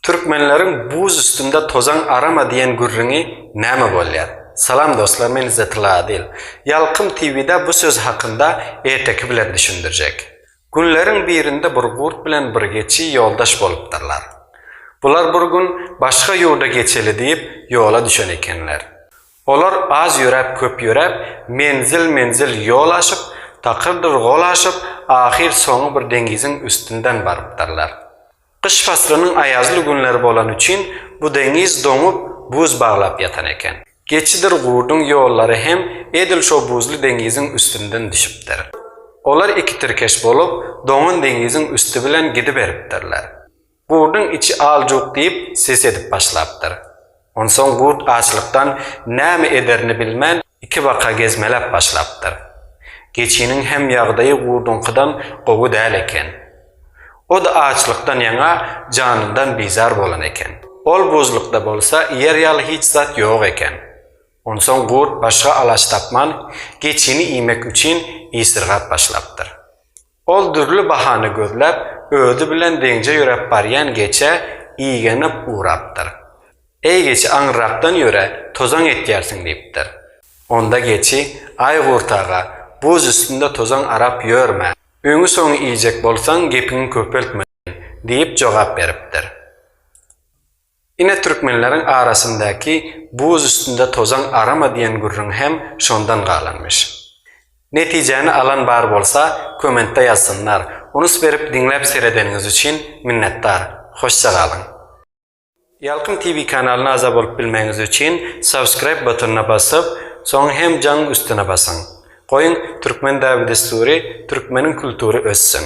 Türkmenleriň buz üstünde tozan arama diýen gürrüňi näme bolýar? Salam dostlar men Izetilla Adil. Ýalkym TV'da bu söz hakynda erteki bilen düşündirjek. Günleriň birinde bir gurt bilen bir geçi ýoldaş bolupdyrlar. Bular bir gün başga ýurda geçeli diýip ýola düşen ekenler. Olar az ýöräp köp ýöräp menzil menzil ýol aşyp takyrdyr gol aşyp ahyr soňy bir deňiziň üstünden barypdyrlar. Gyş paslynyň aýazly günleri bolany üçin bu deňiz doňup, buz baglap ýatan eken. Geçidir gurduň ýollary hem edil şo buzly deňiziň üstünden düşüpdir. Olar iki tirkeş bolup, doňan deňiziň üsti bilen gidiberipdirler. Gurduň içi al-juk diýip, ses edip başlapdyr. Onsoň gurt açlykdan näme ederini bilmän, Iki baka gezmeläp başlapdyr. Geçiniň hem ýagdaýy gurduňkydan gowy däl eken. O-da açlykdan ýaňa janyndan bizar bolan eken. Ol buzlukda bolsa iýer ýaly hiç zat ýok eken. Onsoň gurt başga alaç tapman, geçini iýmek üçin isirgap başlapdyr. Ol dürli bahana gözläp, özi bilen deňje ýöräp barýan geçä igenip ugrapdyr. Eý geçi aňyrrakdan ýöre, tozaň etýärsiň diýipdir. Onda geçi, Aý Gurt aga, buz üstünde tozaň arap ýörme, öňi-soňy iýjek bolsaň gepiňi köpeltme diýip jogap beripdir. Ine türkmenleriň arasyndaky Buz üstünde tozaň arama diýen gürrüň hem şondan galanmyş. Netijäni alan bar bolsa, kommentde ýazsynlar. Unus berip diňläp seredeniňiz üçin minnetdar. Hoşja galyň! Ýalkym TV kanalyna agza bolup bilmegiňiz üçin subscribe butonyna basyp, soň hem jaň üstüne basyň. Goýuň, türkmen däbi-dessury, türkmeniň kultury össün!